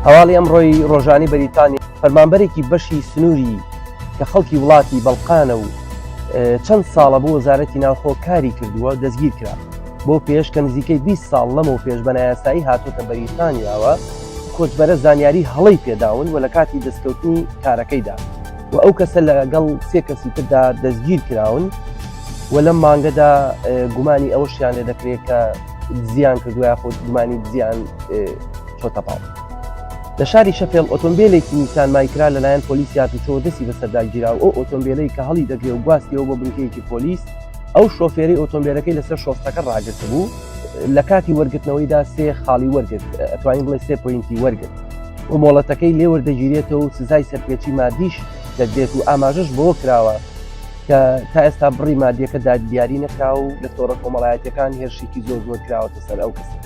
هەواڵی ئەمڕۆی ڕۆژانی بەریتانی فەرمانبەرێکی بەشی سنووری کە خەڵکی وڵاتی بەڵقانە و چەند ساڵە بۆ وەزارەتی ناوخۆ کاری کردووە دەستگیر کرا بۆ پێش کە نزیکەی 20 ساڵ لەمەوە پێش بەنایاسایی هاتوتە بەریتانیاوە کۆچبەرە زانیاری هەڵی پێداون و لە کاتی دەستکەوتنی کارەکەیدا و ئەو کەسە لەگەڵ سێ کەسی تردا دەستگیر کراون و لەم مانگەدا گومانی ئەوەشیان لێ دەکرێت کە دزیان کردوە یاخود گومانی دزیان چۆتە پاڵ لە شاری شەفێڵ ئۆتۆمبیلێکی نیسان مایکرا لەلایەن پۆلیسی هاتوچۆ دەستی بەسەرداگیرا و ئەو ئۆتۆمبیلەی کە هەڵی دەگرێ و گواستیەوە بۆ بنکەیەکی پۆلیس ئەو شۆفێری ئۆتۆمبیلەکەی لەسەر شۆستەکە ڕاگرت بوو لە کاتی وەرگرتنەوەیدا سێ خاڵی وەرگرت ئەتوانین بڵێ سێ پوینتی وەرگرت و مۆڵەتەکەی لێوەردەگیرێتەوە و سزای سەرپێچی مادیش دەدرێت و ئاماژش بۆ کراوە کە تا ئێستا بڕی مادیەکە دادیاری نەکرا و لە تۆڕە کۆمەڵایەتەکان هێرشێکی زۆر زۆر کراوەتە سەر ئەو کەسە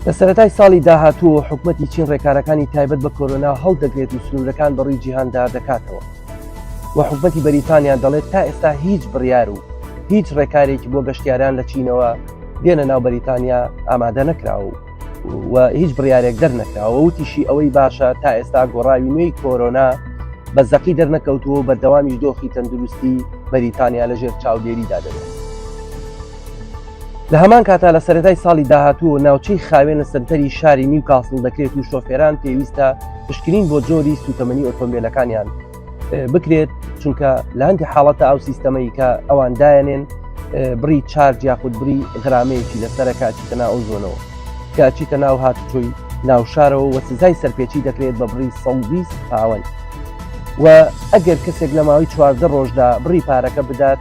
لە سەرەتای ساڵی داهاتوو حکوومەتتی چین ڕێکارەکانی تایبەت بە کۆرۆنا هەڵدەگرێت و سنوورەکان بەڕووی جیهاندا دەکاتەوە و حکوومەتتی بەریتانیان دەڵێت تا ئێستا هیچ بڕیار و هیچ ڕێکارێکی بۆ گەشتیاران لە چینەوە دێنە ناو بەریتانیا ئامادە نەکراوە و هیچ بڕارێک دەرنەکراوە وتیشی ئەوەی باشە تا ئێستا گۆڕاوی نوێی کۆرۆنا بە زەقی دەرنەکەوتووە و بەردەوامی دۆخی تەندروستی بەریتانیا لەژێر چاودێریدا دەبێت لە هەمان کاتا لە سەرەتای ساڵی داهاتوو ناوچەی خاوێن لە سنتەری شاری نیو کاسڵ دەکرێت و شۆفێران پێویستە پشکنین بۆ جۆری سوتەمەنی ئۆتۆمبیلەکانیان بکرێت چونکە لە هەندی حاڵەتە ئەو سیستەمەی کە ئەوان دایەنێن بڕی چارج یاخود بری غرامەیەکی لەسرە کاچیتە ناو ئەو زۆنەوە کاچیتە ناو هاتوچۆی ناوشارەوە وە سزای سەرپێچی دەکرێت بە بڕی 120 پاوەند و ئەگەر کەسێک لە ماوەی چواردە ڕۆژدا بڕی پارەکە بدات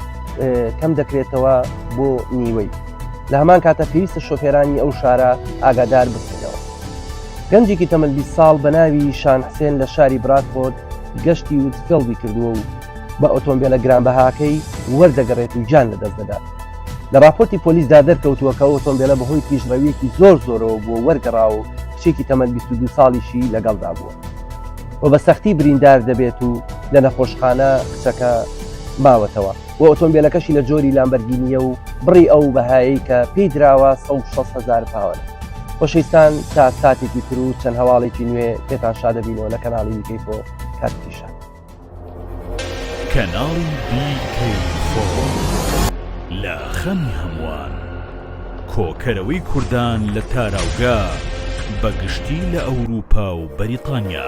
کەم دەکرێتەوە بۆ نیوەی لە هەمان کاتە پێویستە شۆفێرانی ئەو شارە ئاگادار بکرێنەوە گەنجێکی تەمەلبی ساڵ بە ناوی شان حسێن لە شاری براتفۆرد گەشتی وتفێڵدی کردووە و بە ئۆتۆمبیلە گرانبەهاکەی وەردەگەڕێت و گیان لەدەست دەدات لە راپۆرتی پۆلیسدا دەرکەوتووە کە ئۆتۆمبیلە بەهۆی پیشڕەویەکی زۆر زۆرەوە بووە وەرگەڕا و کچێکی تەمەن 22 ساڵیشی لەگەڵدا بووە و بە سەختی بریندار دەبێت و لە نەخۆشخانە کچەکە ماوەتەوە. و ئۆتۆمبێلەکەشی لە جۆری لامبەرگینییە و بڕی ئەو بەهایەی کە پێی دراوە سەد و شەست هەزار پاوەنە. خۆشەویستان تا ساتێکی تر و چەند هەواڵێکی نوێ پێتان شا دەبینەوە لە کەناڵی ویکەی فۆ کاتێکی شا. کەناڵی ویکەی فۆ لە خەمی هەمووان کۆکەرەوەی کوردان لە تاراوگە بە گشتی لە ئەوروپا و بەریتانیا.